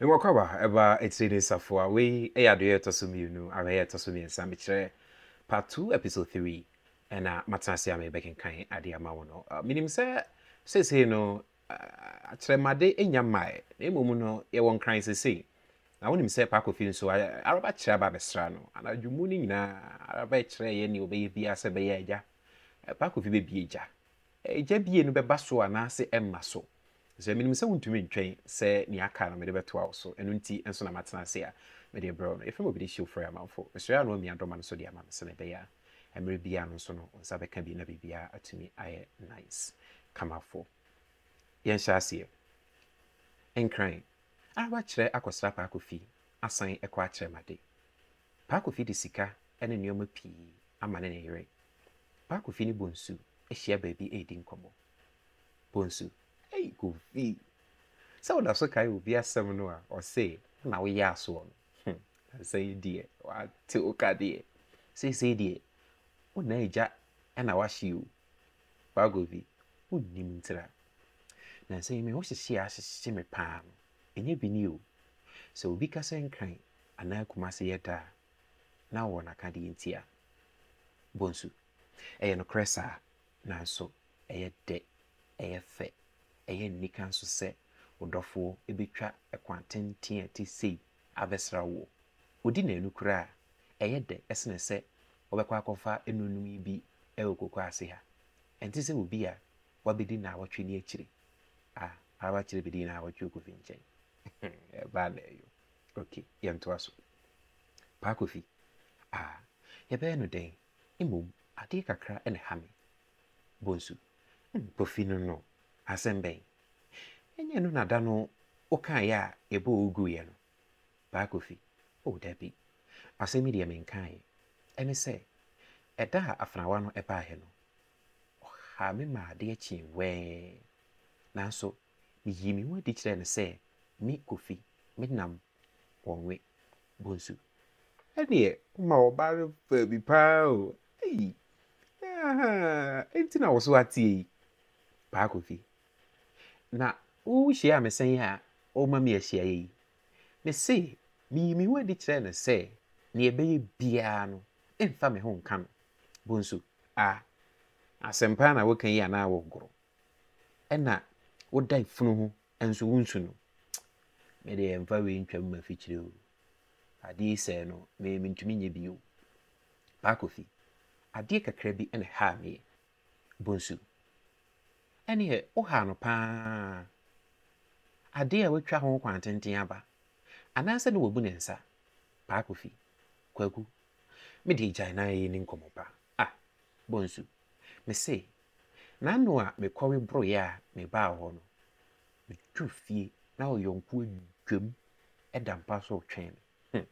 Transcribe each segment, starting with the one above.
Nwɔkɔba ɛbaa etire ne safoa wei ɛyɛ adoyɛ ɛtɔ so mmienu awɛyɛ ɛtɔ so mmiɛnsa mekyerɛ part two episode three ɛna matena ase a merebɛkenkan ade ama wo no menim sɛ seesei no akyerɛmade nnya mmae na mmom no yɛwɔ nkran seesei na wonim sɛ paa kofi nso araba kyerɛ aba abɛsra no anadwo mu no nyinaa araba ɛkyerɛ yɛ ne ɔbɛyɛ biara sɛ bɛyɛ agya paa kofi bɛbie gya gya bie no bɛba so anaasɛ ɛmma so Efisɛ minim sɛ wuntumi ntwɛn sɛ nea aka no mede bɛtoa wo so, ɛno nti nso na matena ase a mede rebrɛ wo no. Efrɛ m'obi de si ofura yɛ amamfo. Mesrɛ a na wamia dɔma no so de ama me sɛnea ɛbɛyɛ a mmere biara no nso no wo nsa bɛka bi na biribiara atumi ayɛ nice. Kamafo. Yɛnhyɛ aseɛ. Nkran. Ara wakyerɛ akɔsra Paa Kofi asan kɔ akyerɛ m'ade. Paa Kofi de sika ne nneɛma pii ama ne ne yere. Paa Kofi ne Bonsu ahyia baabi redi nkɔmmɔ. Bonsu, Ei Kofi, sɛ woda so kae obi asɛm no a ɔse na woyɛ asoɔ no, hmm, ansa yi deɛ wate wo ka deɛ, seesei deɛ wo na agya na wahye o. Ba Kofi, wonnim ntira. Nansa yi me ho hyehye a hyehye me paa no, ɛnyɛ bi ni o. Sɛ obi ka sɛ Nkran anaa Kumase yɛ dɛ a, na ɔwɔ n'akadeɛ nti a. Bonsu, Ɛyɛ nokorɛ saa. Nanso ɛyɛ dɛ, ɛyɛ fɛ, ɛyɛ anika nso sɛ wo dɔfo betwa kwan tenten a ɛte sei abɛsra wo. Odi nnanu koraa a, ɛyɛ dɛ sen sɛ wobɛkɔ akɔfa anuanom yi bi wɔ kokoa ase ha. Ɛnte sɛ obi a wabedi nnawɔtwe ne akyiri a aba kyerɛ bedi nnawɔtwe wɔ Kofi nkyɛn. Ɛba anaa yo? Okay, yɛntoa so. Paa Kofi, Ah, yɛbɛyɛ no dɛn? Mmom adeɛ kakra na ɛha me. Bonsu, Ɛne Kofi no no asɛm bɛn? Ɛnyɛ ɛno na da no wokaeɛ a yɛbɔɔ wo guiɛ no? Paa Kofi, Oh dabi, asɛm yi deɛ menkaeɛ. Ɛne sɛ, ɛda a afenawa no baeɛ no, ɔhaa me maa adeɛ kyee wɛɛn. Nanso meyii me ho adi kyerɛɛ no sɛ me, Kofi, menam wɔwe bonsu ɛdeɛ woma wɔbare faabi paa o ei ahaa nti na woso ateɛ yi paa kofi na wo hyia me sɛn a woma me ahyiaeɛ yi mese meyi me ho adi kyerɛ no sɛ nea ɛbɛyɛ biara no mfa me ho nka no bonsu a asɛm paa na woka yi anaa wogoro ɛna woda funu ho Nso wo nsu no me deɛ mfa wei ntwa mu mafikyire o adeɛ yi sɛɛ no me mentumi nyɛ bi o paa kofi adeɛ kakra bi ɛna haa meɛ bonsu ɛneɛ wo haa no paa adeɛ a watwa ho kwan tenten aba anaasɛ ne wabu ne nsa paa kofi kwaku me deɛ gyae na yɛ ni nkɔmɔ paa. Ah, Bonsu, mese, n'ano a mekɔwe boroeɛ a mebaa hɔ no, meduru fie na ɔyɔnkoɔ adwam da mpa so retwɛn me. Hmm,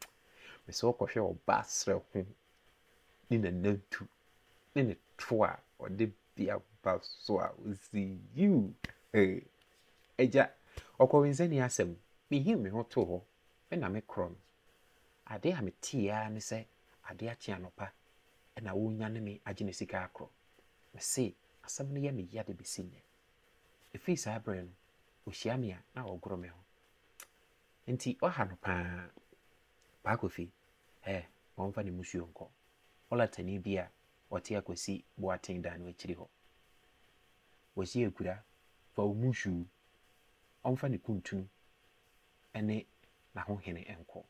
mese wokɔhwɛ ɔbaa serɛ ho ne nanantu ne ne to a ɔde bea ba so a ɔsi yiw. Hey, agya, ɔkɔwensani asɛm, mehim me ho too hɔ Me na me korɔ no. Adeɛ a meteeɛ ara ne sɛ adeɛ akye anɔpa na ɔrenyane me agye ne sika akorɔ. Mese asɛm no yɛ me ya de bɛsi nnɛ. Ɛfiri saa berɛ no, ɔhyia me a na ɔgoro me ho. Enti ɔha no pa ara. Paa Kofi, ɛ, ma ɔmfa ne mmusuo nkɔ. Ɔlatani bi a ɔte Akwasi Boateng dan no akyiri hɔ. Kwasi Agura, fa wo mmusuo. Ɔmfa ne kuntunu ne n'ahohene nkɔ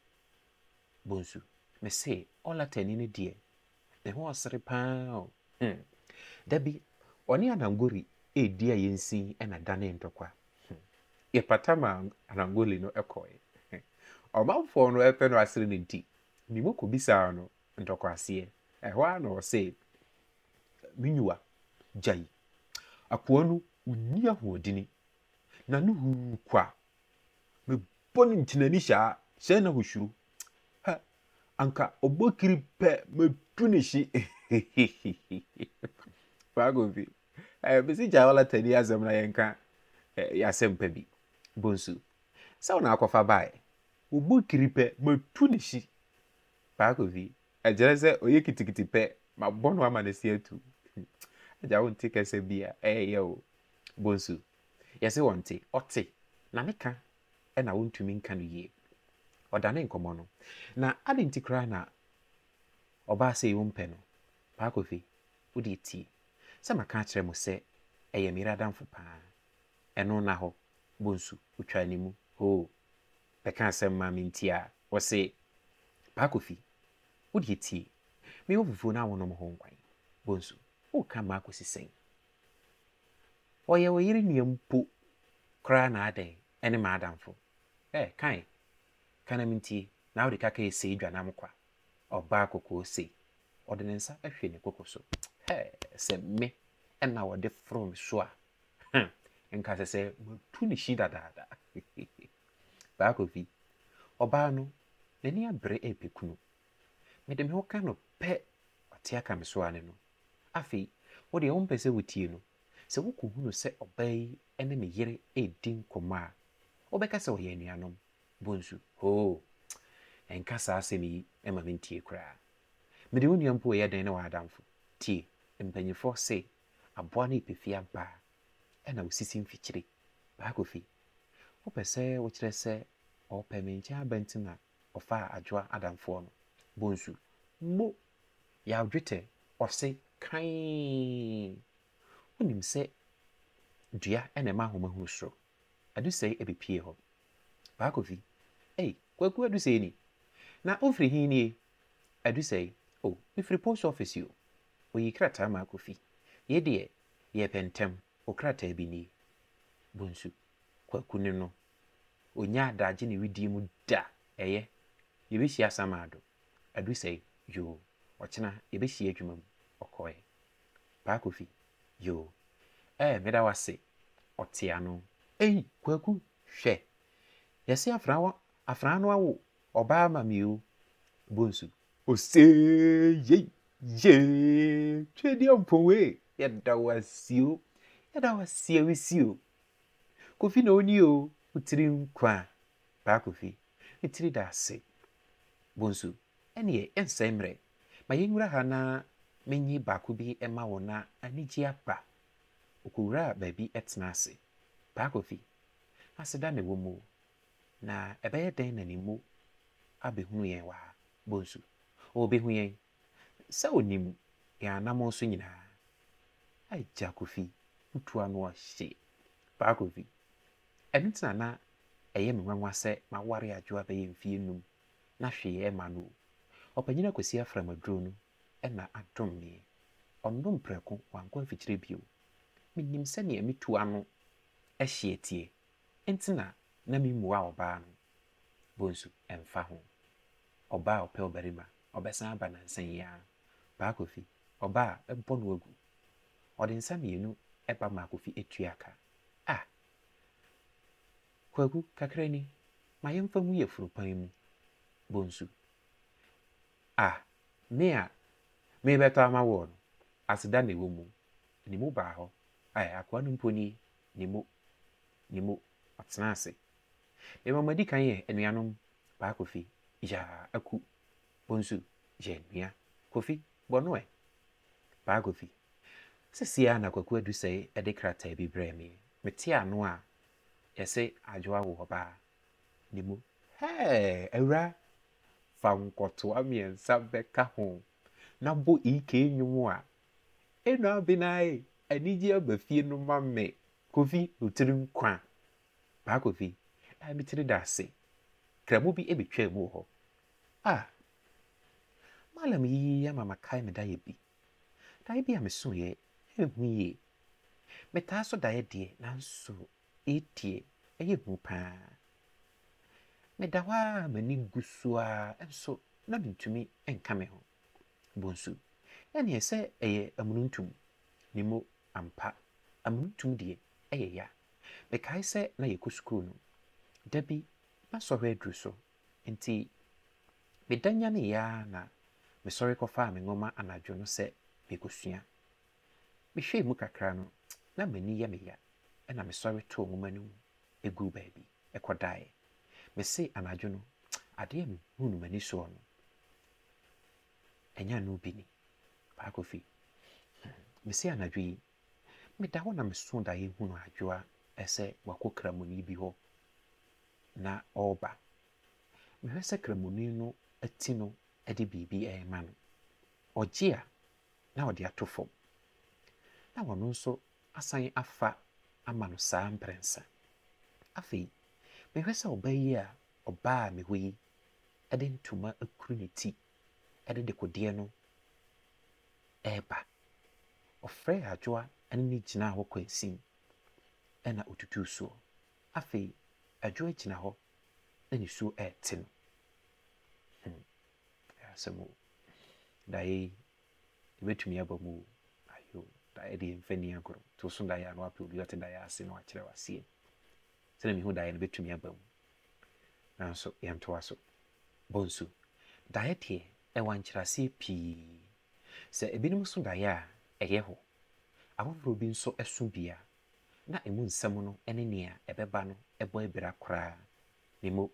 bonsu. Mese Olatani no deɛ, ne ho ɔsere pa ara o. Hmm. Da bi, ɔne Anangoli redi a yɛn nsin na ɛdanee ntɔkwa. Hmm. Yɛpata ma Anangoli no kɔe. Hmm. Ɔmanfoɔ no pɛ no asere no nti, me mu kɔbisaa no ntɔkwaseɛ. Ɛhɔ ara na ɔse, Menyua, gyae. Akoa no, ɔnni ahoɔdini. N'ano huu kwa Me bɔ no nkyinani saa sɛ na osuro. Hɛ! Anka ɔbɔ kiri pɛ mɛtu ne hye. Faakofi, eh, mesi gyae ɔlatani asɛm na yɛnka eh, yɛasɛm pa bi. Bonsu, sɛ wo na akɔfa bae. Ɔbɔ kiri pɛ mɛtu ne hye. Faakofi, ɛkyerɛ sɛ ɔyɛ kitikiti pɛ mabɔ no ama ne se atu. Agya wonte kasa bi a ɛyɛ o. Bonsu, Yɛse ɔnte, ɔte, na ne ka na wontumi nka no yie. Ɔdane nkɔmmɔ no, na adɛn nti koraa na ɔbaa sei wompɛ no? Paa Kofi, wodeɛ tie, sɛ maka akyerɛ mo sɛ ɛyɛ meyere adamfo paa. Ɛno nna hɔ, Bonsu, ɔtwaa ne mu, hoo, bɛka asɛm maa me nti a, ɔse, Paa Kofi, wodeɛ tie, mewɔ fufuo no a wonom ho nkwan. Bonsu, woreka mmaa kɔsi sɛn? Ɔyɛ ɔyere nua mpo koraa na adɛn ɛne m'adamfo eh kae ka na mentie na wode kaka ɛsei dwa nam kwa ɔbaa kɔkɔɔ sei ɔde ne nsa ahwie ne koko so hɛɛ sɛ me ɛna ɔde foro me so a huh nka sɛ sɛ matu ne hyi dadaada Baakofi Ɔbaa no n'ani abere ɛɛpɛ kunu Mede me ho ka no pɛ ɔte aka me so ara ne no. Afei, wo deɛ wompɛ sɛ wotie no. Sɛ wokɔhunu sɛ ɔbaa yi ne ne yere redi nkɔmmɔ a, wobɛka sɛ wɔyɛ anuanom. Bonsu, Hoo! Nka saa asɛm yi mma mentie koraa. Mede wo nua mpo reyɛ dɛn ne wo adamfo? Tie, mpanimfoɔ se aboa no yɛ pefee ampa ara. Ɛnna ɔsisi mfikyire. Baako fi. Wopɛ sɛ wokyerɛ sɛ ɔrepɛ me nkyɛn aba nti na ɔfaa Adwoa Adamfoɔ no bonsu mo yaw dwetɛ ɔse kann. Wonim sɛ dua na ɛma ahoma hunu soro. Adusɛe ɛbɛpie hɔ. Paa Kofi, Ei, Kwaku Adusɛe ni? Na wofiri he nie? Adusɛe, O, mefiri post office o. Ɔyii krataa maa Kofi. Yei deɛ, yɛɛpɛ ntɛm, wo krataa bi nie. Bonsu, Kwaku ne no Ɔnnya adagye ne wedeɛ mu da, ɛyɛ, Yɛbɛhyia asamado, Adusɛe, Yoo, ɔkyena yɛbɛhyia adwuma mu, Ɔkɔɛ, Paa Kofi, Yoo, ɛɛ meda wo ase, Ɔte ano, ei, Kwaku, hwɛ, Yɛse afraa wo afraa no awo ɔbaa ama me o, Bonsu, ose yei, yee, Twedeɛ Ɔmpɔn ee, yɛda wo ase o, Yɛda wo ase a wesi o, Kofi na ɔni o wo tiri nkwa Paa Kofi me tiri da ase Bonsu ɛneɛ yɛnsɛe mmerɛ ma yɛnwura ha na menye baako bi ma wo na anigyeɛ aba Ɔkɔwuraa baabi tena ase Paa Kofi aseda na ɛwɔ mu o Na ɛbɛyɛ dɛn na ne mu abɛhunu yɛn wɔ ha Bonsu ɔɔbɛhu yɛn Sɛ onim yɛn anammɔn so nyinaa. Agya Kofi wo tu ano ɔhye paa Kofi ɛno nti na na ɛyɛ me nwanwa sɛ maware Adwoa bɛyɛ mfie num na hwee ɛmma no o Ɔpanyin Akwasi Afram aduro no na adom me ɔnom prɛko wankɔ mfikyire bio Menim sɛdeɛ me tu ano hye teɛ Enti na na memmua ɔbaa no. Bonsu, Ɛmfa ho. Ɔbaa a ɔpɛ ɔbarima, ɔbɛsan aba nnansa yi ara. Paa Kofi, Ɔba a ɛbɔ no agu. Ɔde nsa mmienu ba maa Kofi tua ka. Ah! Kwaku, kakra ni. Ma yɛmfa ngu yafunu pan mu. Bonsu, Ah! Me a merebɛtɔ ama woɔ no, aseda na ɛwɔ mu. Ne mu baa hɔ. Ae, akoa no mpo nie. ne mu, ne mu, ɔtena ase. Mema mo adi kan yɛ anuanom, Paa Kofi, Yaa, Aku, Bonsu, yɛ nua, Kofi, bɔ no ɛ. Paa Kofi, Sesie ara na Kwaku Adusɛe de krataa bi brɛɛ me, mete ano a, yɛse Adwo awo ɔbaa, ne mu, hɛɛ, awuraa, fa nkɔtoa mmiɛnsa bɛka ho, na bɔ EK nnwom a Enua bi na ayɛ anigye aba fie no ma me Kofi no tiri nkwa paa Kofi a me tiri da ase kramo bi ɛbɛ twaa mu wɔ hɔ ah Malam yi ama ma kae me daeɛ bi daeɛ bi a me so yɛ ɛnhu yie me taa so daeɛ deɛ nanso yei deɛ ɛyɛ hu paa me da hɔ aa m'ani gu so aa nso na me ntumi nka me ho. bonsu. Ɛnneɛ sɛ ɛyɛ amununtum, ne mo ampa, amununtum deɛ, ɛyɛ ya. Mekae sɛ na yɛkɔ sukuu no, da bi na sɔhwɛ aduru so, enti meda nyaneeɛ ara na mesɔre kɔfaa me nwoma anadwo no sɛ merekɔsua. Mehwɛɛ mu kakra no, na m'ani yɛ me ya, ɛnna mesɔre too nwoma no mu guu baabi kɔdaeɛ. Mese anadwo no, adeɛ a mehuu no m'ani soɔ no, Ɛnyɛ ano bi ni. Paa Kofi, mese anadwo yi, meda hɔ na meso daeɛ hunu Adwoa sɛ wakɔ Kramoni bi hɔ na ɔreba. Mehwɛ sɛ Kramoni no ati no de biribi rema no. Ɔgye a, na ɔde ato fam. Na ɔno nso asan afa ama no saa mprɛnsa. Afei, mehwɛ sɛ ɔba yi a ɔbaa me hɔ yi de ntoma akuru ne ti de dekodeɛ no reba. Ɔfrɛɛ Adwoa ne no gyinaa hɔ kwansin na ɔtutuu soɔ. Afei Adwoa gyina hɔ na nisuo rete no. Hmm, ɛyɛ asɛm o. Daeɛ yi, ɛbɛtumi aba mu o. Ayo, daeɛ deɛ mfa nni agorɔ. To so daeɛ a na wapɛ obi ɔte daeɛ ase na wakyerɛ wo aseɛ. Sɛnea mihu daeɛ no bɛtumi aba mu, nanso yɛntoa so. Bonsu, Daeɛ deɛ, ɛwɔ ankyerɛaseɛ pii. Sɛ ebinom so daeɛ a, ɛyɛ hɔ. Afoforɔ bi nso so bi a, na emu nsɛm no ne nea ɛbɛba no bɔ abira koraa. Memo,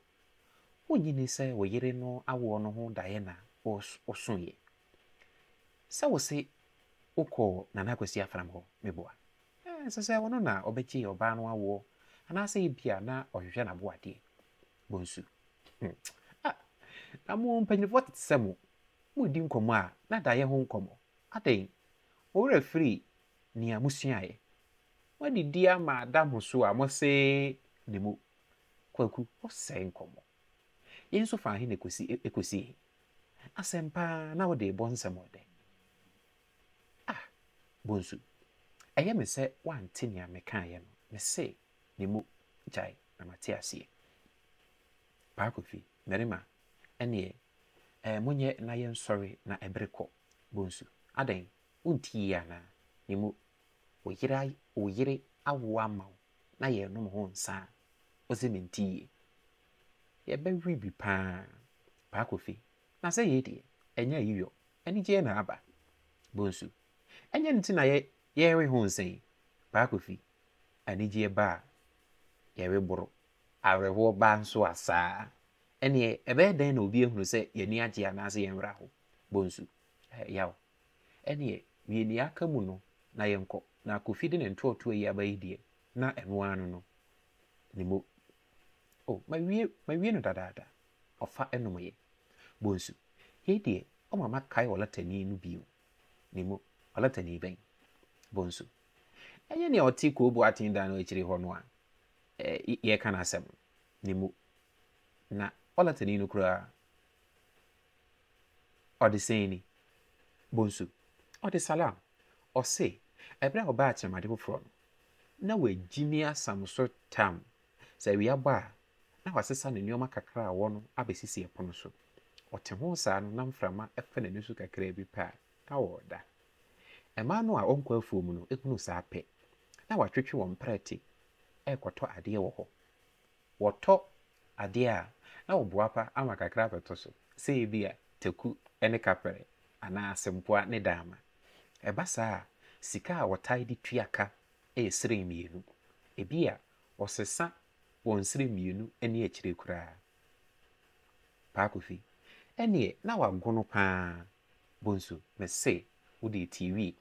Wonnye nni sɛ wo yere no awoɔ no ho daeɛ na wosoeɛ? Sɛ wo se wo kɔɔ Nana Akwasi Afram hɔ, me boa. Ɛɛ, ɛsɛ sɛ ɔno na ɔbɛgye ɔbaa no awoɔ, anaasɛ ebia na ɔhwehwɛ n'abo adeɛ. Bonsu, hmm, ah, na mo mpanyinfoɔ tete sɛ mo, mo redi nkɔmmɔ a, na daeɛ ho nkɔmmɔ. Adɛn, mo werɛ afiri nea mo suaeɛ? Mo adidi ama ada mo so a mo se ne mo. Kwaku, ɔsɛe nkɔmmɔ. Yɛn nso faa he na ekosi he? Asɛm paa na wode rebɔ nsɛm wɔ dɛ. Ah Bonsu, ɛyɛ me sɛ woante nea mekaeɛ no, mese ne mu gyae na mate aseɛ. Paa Kofi, Marima, ɛneɛ eh monyɛ na yɛnsɔre na ɛbere kɔ. Bonsu, Adɛn, wontiee anaa? Ne mu, wo yere awoa ama wo na yɛrenom ho nsa a, ɔdze minti yie. Yɛbɛwe bi paa, Paa Kofi, na sɛ yei deɛ, ɛnyɛ ayiyɔ, anigyeɛ na aba. Bonsu, Ɛnyɛ no nti na yɛrewe ho nsa yi, Paa Kofi, anigyeɛ ba a, yɛwe boro, awerɛhoɔ ba nso a saa. Ɛnneɛ ɛbɛyɛ dɛn na obi ahunu sɛ yɛn ani agye anaasɛ yɛn werɛ aho? Bonsu, Ɛyɛ yaw, Ɛneɛ, wie neɛ aka mu no na yɛnkɔ, na Kofi de ne ntoɔtoɔ yi aba yi deɛ, na ɛno ara no no, ne mo. Oh, mawie, mawie no dadaada. Ɔfa ɛnomeɛ. Bonsu, yei deɛ, ɔma makae ɔlatani no bio. Ne mo, ɔlatani bɛn? Bonsu, ɛnyɛ nea ɔte Koo Boateng dan no akyire hɔ no a yɛreka n'asɛm no. Ne mo, na ɔlatani no koraa, Ɔde sɛn ni, Bonsu? Ɔde Salaam. Ɔse, ɛberɛ a ɔbaa Akyerɛmade foforɔ no, na wagyimi asam so tam, sɛ awia bɔ a, na wasesa ne nnoɔma kakra a ɔwɔ no abɛsisi ɛpono so. Ɔte ho saa no na mframa fa n'ani so kakraa bi pɛ a, na ɔreda. Mmaa no a wɔnkɔ afuo mu no hunu saa pɛ, na wɔatwetwe wɔn prɛte rekɔtɔ adeɛ wɔ hɔ. Wɔtɔ Adeɛ a na ɔboapa ama kakra abɛtɔ so, sɛ ebia taku ne kapɛrɛ anaa asempoa ne daama. Ɛba saa a, sika a wɔtae de tua ka yɛ srɛ mmienu. Ebia ɔsesa wɔ nsrɛ mmienu ne akyire koraa. Paa Kofi, ɛnneɛ na wagono pa ara. Bonsu, mese wo deɛ tie wie.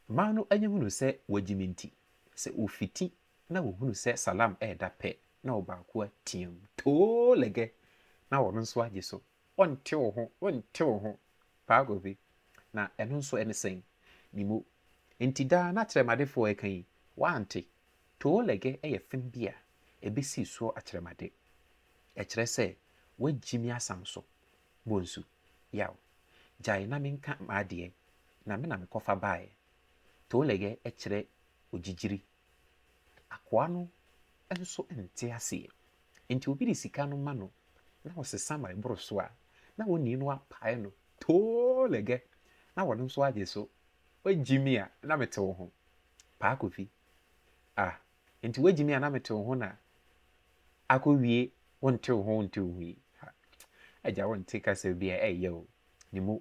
Mmaa no anya hunu sɛ wɔagye me nti, sɛ ɔfiti na wɔhunu sɛ Salam reda pɛ na ɔbaako ateam, Too Lege! na ɔno nso agye so, Wonte wo ho, wonte wo ho, Paa Govi! Na ɛno nso ɛne sɛn? Mimo! Enti daa na akyerɛmadefoɔ reka yi, woante? Too Lege yɛ fem bi a ɛbɛsi soɔ akyerɛmade. Ɛkyerɛ sɛ woagyi me asam so. Bonsu! Yaw! Gyae na menka m'adeɛ, na me na mekɔfa baeɛ. Too Lege kyerɛ ogyigyiri. Akoa no nso nte aseɛ, enti obi de sika no ma no na ɔsesa ma ɛboro so a, na onii no apae no too lɛgɛ na ɔno nso agye so. Woagyi me a na mete wo ho, Paa Kofi. Ah, enti woagyi me a na mete wo ho na akɔwie wonte wo ho wonte wo ho yi? Ha, agya wonte kasa bi a ɛyɛ o, ne mu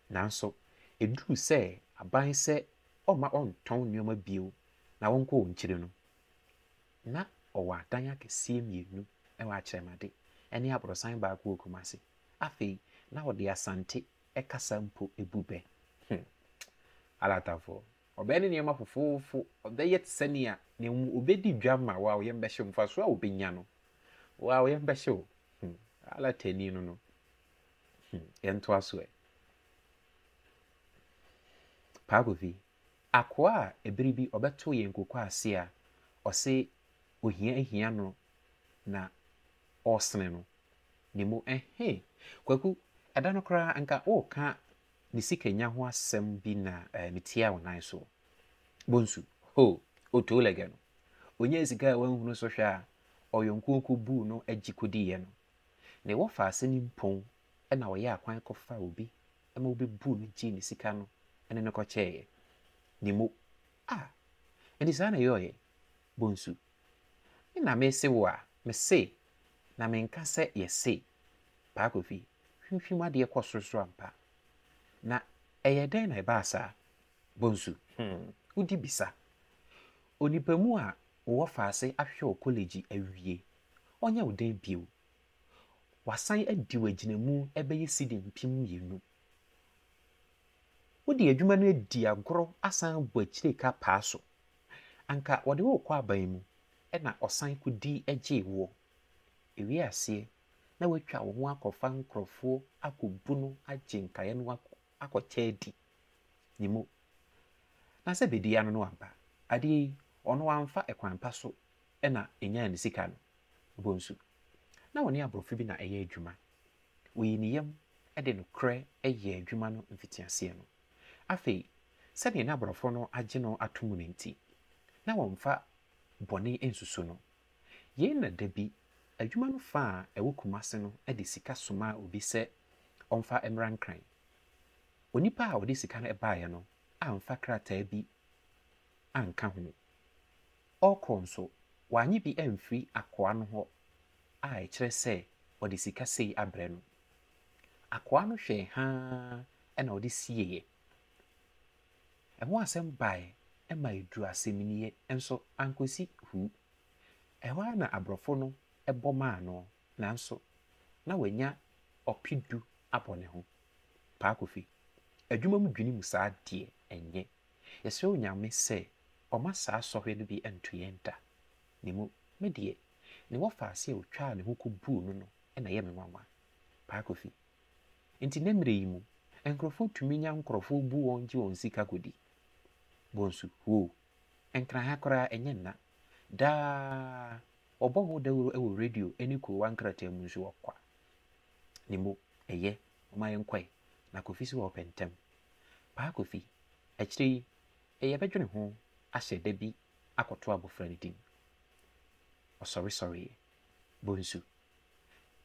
Nanso eduu sɛ aban sɛ ɔmma ɔntɔn nneɛma bio na ɔnkɔ wɔn akyiri no, na ɔwɔ adan akɛseɛ mmienu wɔ Akyerɛmade ne aborosan baako wɔ Kumasi. Afei na ɔde Asante kasa mpo bu bɛ. Hmm. Alatafoɔ, ɔbɛyɛ ne nneɛma fofoofo, ɔbɛyɛ te sɛ nea ne ho ɔbɛdi dwa ma wo a yɛn bɛhye mfasoɔ a ɔbɛnya no, wo a yɛn bɛhye wo. Hmm. Alatani no no, Hmm, yɛntoa so ɛ. Paakofi, akoa a ebere bi ɔbɛto yɛn nkokɔ ase a ɔse ohia ahia no na ɔresene no ne mu ɛhe. Kwaku, ɛda no koraa nka ɔreka ne sikanya ho asɛm bi na eh, metia wo nan so. Bonsu, ho, otoo lɛgɛ no. Onyaa sika a wanhunu so hwɛ a ɔyɔnko kɔbuu no agyi kɔdiiɛ no. Nea wɔfa ase no mpo na wɔyɛɛ akwan kɔfaa obi ma wobebuu no gyee ne sika no ne no kɔkyɛeɛ. Ne mo, a, enti saa na ɛyɔeɛ, Bonsu? Me na mese wo a, mese, na menka sɛ yɛse, Paa Kofi, hwimhwim adeɛ kɔ sorosoro ampa. Na ɛyɛɛ dɛn na ɛbaa saa? Bonsu, hmm, wodi bisa. Onipa mu a wowɔ fa ase ahwehwɛ wɔ kɔlɛgyi awie ɔnyɛ wo dɛn bio? Wɔasan adi wo agyinamu bɛyɛ cedi mpem mmienu. Wode adwuma no adi agorɔ asan abɔ akyire ka paa so. Anka wɔde wo rekɔ aban mu na ɔsan kɔdi gyee woɔ. Ɛwie aseɛ na woatwa wo ho akɔfa nkurɔfoɔ akɔbu no agye nkaeɛ no akɔkyɛ adi. Nimo. Na sɛ bɛdi ano no aba, adeɛ yi, ɔno wamfa kwan pa so na enyaa ne sika no, bonsu. Ná ɔne aborɔfo bi na ɛyɛ adwuma. Oyii ne yam de nokorɛ yɛɛ adwuma no mfitiaseɛ no. Afei, sɛdeɛ na aborɔfo no agye no ato mu no nti, na wɔmfa bɔne nsusu no. Yei na da bi, adwuma no fã a ɛwɔ Kumasi no de sika somaa obi sɛ ɔmfa mmra Nkran. Onipa a ɔde sika no baeɛ no amfa krataa bi anka ho. Ɔrekɔ nso, wannye bi amfiri akoa no hɔ a ɛkyerɛ sɛ ɔde sika sei abrɛ no. Akoa no hwɛe haa na ɔde sieeɛ. Ɛho asɛm baeɛ ma ɛduruu asɛmnie nso ankɔsi hu. Ɛhɔ ara na aborɔfo no bɔ maa no nanso na wanya ɔpedu abɔ ne ho. Paa Kofi, adwuma mu dwinim saa deɛ ɛnyɛ. Yɛsrɛ Onyame sɛ ɔma saa sɔhwɛ no bi nto yɛn da. Ne mu, me deɛ, ne wɔfaase a ɔtwaa ne ho kɔbuu no no na ɛyɛ me nwanwa. Paa Kofi. Enti nnɛ mmerɛ yi mu, nkorɔfoɔ tumi nya nkorɔfoɔ bu wɔn gye wɔn sika kɔdi. Bonsu, woo, Nkran ha koraa ɛnyɛ nna. Daa, wɔbɔ ho dawuro wɔ radio ne kurowa nkrataa mu nso wɔ kwa. Ne mu, ɛyɛ. Momma yɛnkɔe, na Kofi so ɔɔpɛ ntɛm. Paa Kofi, akyire yi yɛbɛdwene ho ahyɛ da bi akɔto abɔfra no din. Ɔsɔre sɔreeɛ. Bonsu,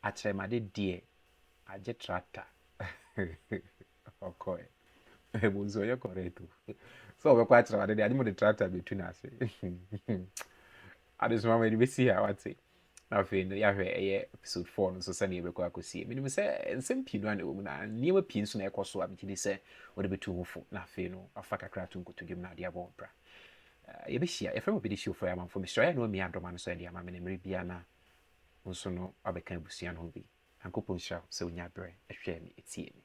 akyerɛmade deɛ agye tractor. Ɔkɔe. Bonsu ɔyɛ correct o. Sɛ ɔbɛkɔ akyerɛmade deɛ agye ma ɔde tractor bɛtu no ase. Adesoa mede bɛsi ha wate. na afei no yɛahwɛ ɛyɛ episode four no nso sɛdeɛ ɛbɛkɔ akɔsie menim sɛ nsɛm pii no a na ɛwɔ mu na nneɛma pii nso na ɛkɔ so a megye di sɛ wɔde bɛtu ho fo na afei no afa kakra ato nkoto dwom na adeɛ abɔ wo bra yɛbɛhyia yɛfrɛ mu bɛde hyiofo yɛ amanfo mesrɛ yɛ na wamia adɔma no so ɛde ama me ne mmerɛ biara na nso no abɛka abusua no ho bi nyankopɔn nhyira wo sɛ wonya berɛ ɛhwɛɛ me ɛtiee me